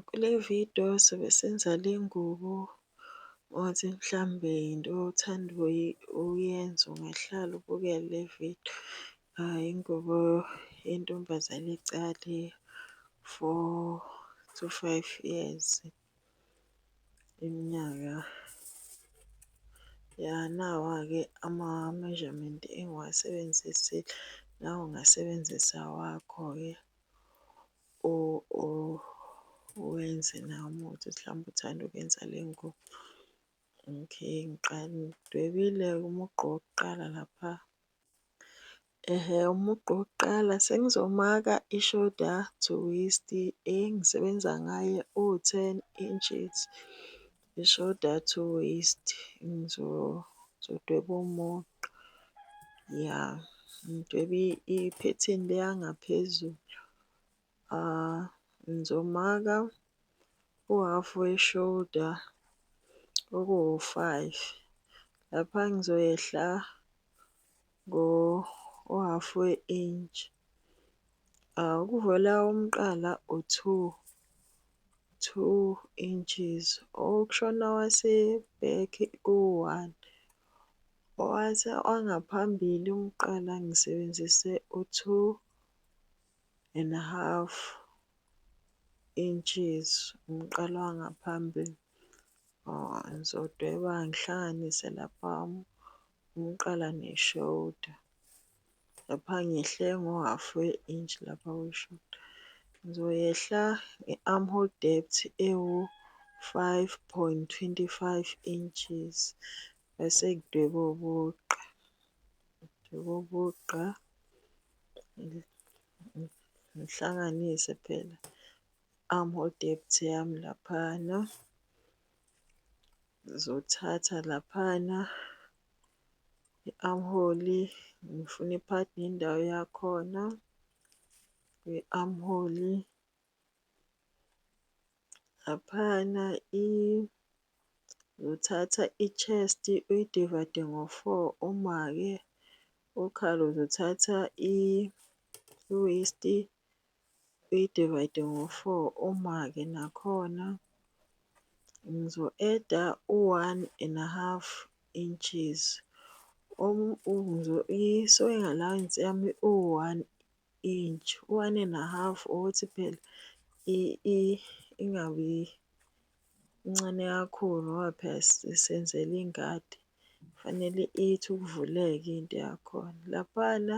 Kule vidiyo sobe senza le ngubo othi mhlawumbe yinto othanda uyenza ungahlala ubukele le vidiyo. Ingubo yentombazane encane four to five years iminyaka. Ya nawa-ke ama-measurement engiwasebenzisile, nawe ungasebenzisa awakho-ke. Wenze nawo umuthi ukuthi mhlawumbe uthanda ukuyenza le ngubo. Okay, ngiqale ngidwebile umugqa wokuqala lapha. Ehhe, umugqa wokuqala sengizomaka i-shoulder to waist engisebenza ngayo o-ten inches. Ishoda to waste ngizodweba umugqa. Ya, ngidwebe iphethini le yangaphezulu. Ngizomaka uhhafu weshoda okuwu-five. Lapha ngizoyehla ngo uhhafu we-intshi. Ukuvela umqala u-two, two inches. Okushona wase-back kuwu-one. Wangaphambili umqala ngisebenzise u-two and a half inches, umqala wangaphambili. Ngizodweba ngihlanganise lapha . Ngiqala nge shoulder lapha ngehle ngo half we inch lapha kwi shoulder. Ngizoyehla nge arm hole depth ewu five point twenty five inches bese ngidweba ubugqa. Ngidweba ubugqa ngihlanganise phela arm hole depth yami laphana. Ngizothatha laphana i-armhole ngifune i-pad nendawo yakhona kwi-armhole. Laphana ngizothatha i-chest uyidivayide ngo-four uma-ke ukhala uzothatha i-waist uyi-divide ngo-four uma-ke nakhona ngizo-add-a u-one and a half inches i-sewing allowance yami iwu-one inch, u-one and a half ukuthi phela ingabi ncane kakhulu ngoba phela sisebenzela ingadi, kufanele ithi ukuvuleka into yakhona. Laphayana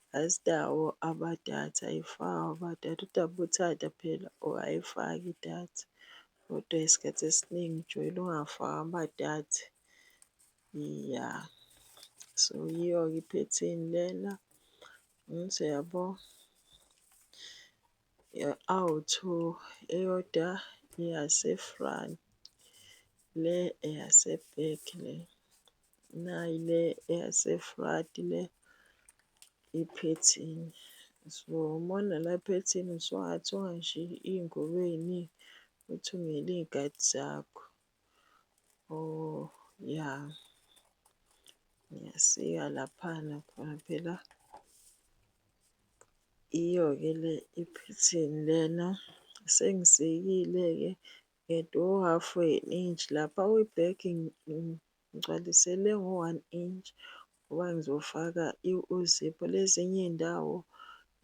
Asinawo amadatha ayifakwa amadatha udaba ubuthanda phela or ayifaki idatha kodwa isikhathi esiningi ujoyina ungafaki amadatha. Iya, so yiyo-ke iphethini lena angithi uyabo. Ye-awutho eyodwa eyase-front le eyase-back le. Nayi le eyaseFrati le iphethini. So uma unala phethini usungathunga nje iy'ngubo ey'ningi, uthungele iy'kati zakho. Or ya ngiyasika laphana khona phela iyo-ke le iphethini lena. Sengisikile-ke Get u-half we-inch lapha uyi-black ngigcwalisele ngo-one inch ngoba ngizofaka i-zip. Lezinye iy'ndawo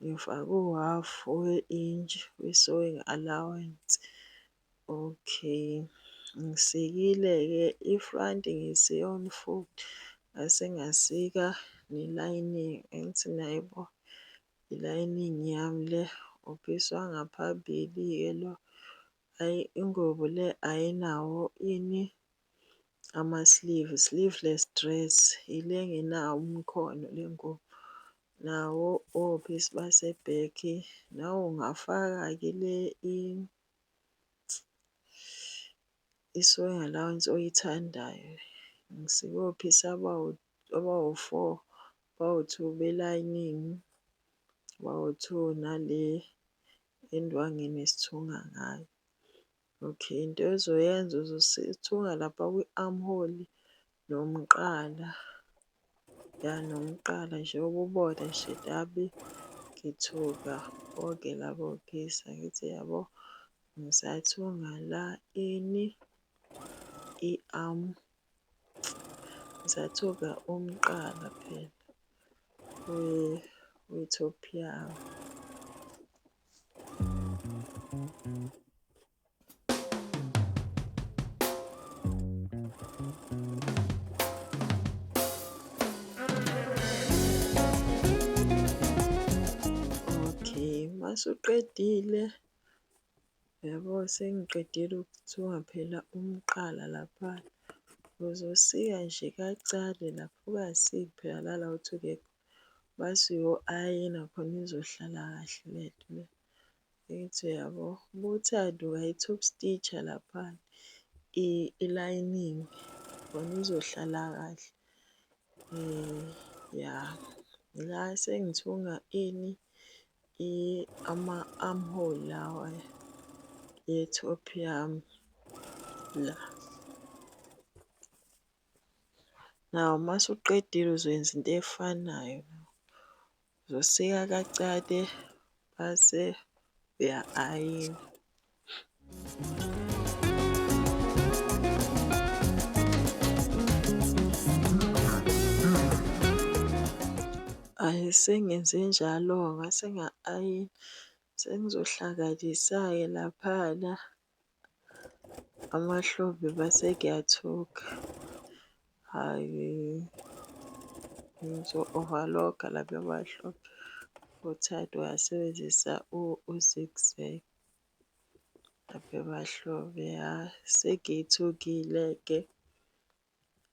ngifake u-half we-inch we-sewing allowance. Okay, ngisikile-ke i-front ngisiye on foot, ngase ngasika ne-lining angithi niyayibona i-lining yami le, uphisi wangaphambili-ke lo. Ay ingubo le ayinawo yini ama sleeve sleeveless dress ile engenawo umkhono lengubo. Nawo obese base back nawe ungafaka ke le isonga lawo oyithandayo. Ngisikophisi abawu-four bawu-two be lining bawu-two nale Indwangu enesithunga ngayo. Okay, into ozoyenza uzosithunga lapha kwi-arm hole nomqala. Ya nomqala nje ububone nje tabi ngithuka bonke labo gisa ngithi yabo ngisathunga la ini i-arm Zathuka umqala phela we-Ethiopiyayo. Okay, mase uqedile Yabo sengiqedile ukuthiwa phela umqala lapha uzosika nje kacale lapho ungasiyi phela lala uthi ungekho base uyo-ayina khona izohlala kahle le nto le. Ngithi uyabo bothanduka i-top stitcher lapha i-lining khona izohlala kahle. Ya la sengithunga ini Ama-armhole lawa ye-top yami la. Nawu uma usuqedile uzoyenza into efanayo. Uzosika kacate base uya-ayina. Ayi sengenze njalo ngase nga-ayina sengizohlakalisa-ke laphana amahlombe base kuyathuka hhayi ngizo-overlock-a lapha emahlombe uThando uyasebenzisa u-zigzag. Ave bahlobo ya sengithukile-ke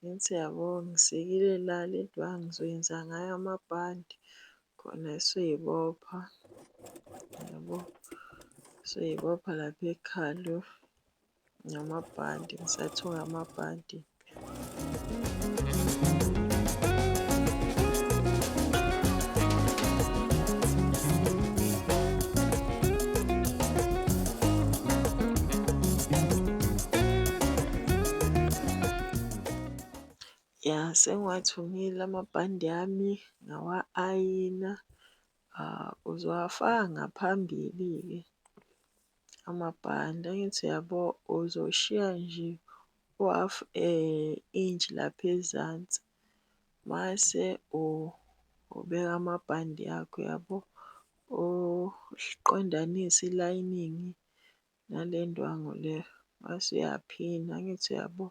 ngithi yabo ngisikile la le ndwangu ngizoyenza ngayo amabhande khona esoyibopha yabo, soyibopha lapha ekhanda. Ngamabhadi, ngisathoka amabhadi. Ya, sengiwathungile amabhande ami, ngawa-ayina. Ah, uzowafaka ngaphambili-ke amabhande angithi uyabo uzoshiya nje u-half eh, inch lapha ezansi mase ubeka amabhande akho yabo uqondanise ilining nale ndwangu le wase uyaphina angithi uyabo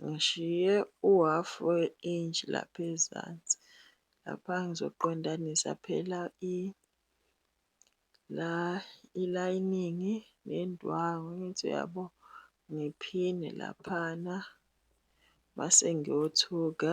ngishiye u-half we-inch lapha ezansi lapha ngizoqondanisa phela i la ilayiningi nendwangu angithi uyabo ngiphine laphana mase ngiyothuka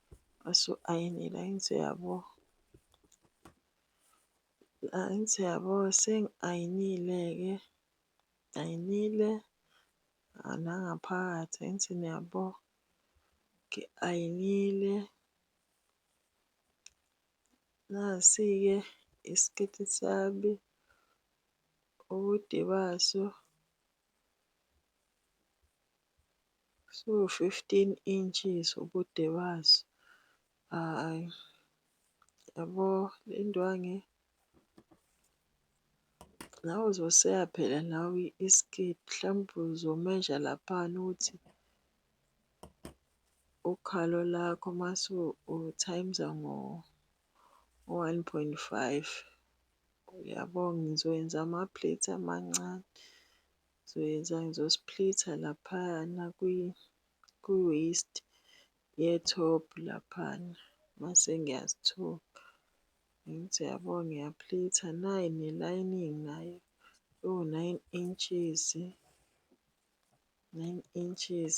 Mase u-ayinile angithi uyabo, angithi uyabo sengi-ayinile-ke, ngi-ayinile nangaphakathi angithi niyabo, ngi-ayinile. Nasi-ke isiketi sami, ubude baso. Siwu-fifteen inches ubude baso. Hhayi, yabo le ndwangu nawe uzoseya phela nawe isketi mhlawumbe uzomeja laphana ukuthi ukhalo lakho mase u-times-a ngo-one point five. Uyabo ngizokwenza ama-plates amancane. Ngizoyenza ngizosplitha laphana kwi-waist ye-top laphana mase ngiyazithoba. Ngithi yabo ngiyaplitha nayi ne-lining nayo iwu-nine inches, nine inches.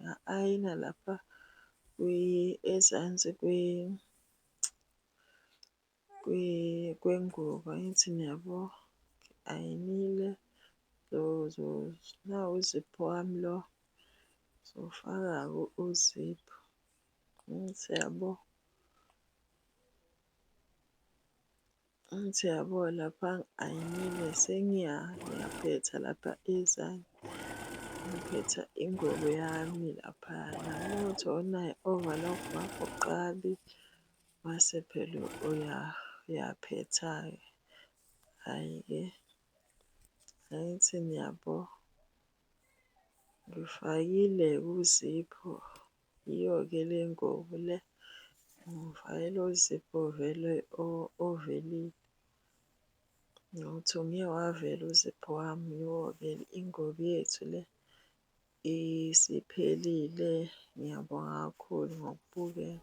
nga-ayina lapha ezansi kwengubo angithi niyabo, ngi-ayinile nawu uziphu wami lo, ngizowufaka-ke uziphu angithi uyabo. Ngithi yabo lapha ayimile sengiya ngiyaphetha lapha ezani ngiphetha ingubo yami lapha namuthi onaye overlock wakho qali mase phela uya uyaphetha-ke hhayi-ke angithi niyabo ngifakile kuzipho Yiyo-ke le ngobo le, umvayela ozipho ovele ovelile. Nokuthi ungeke wavela uzipho wami, yiyo-ke ingobo yethu le isiphelile. Ngiyabonga kakhulu ngokubukela.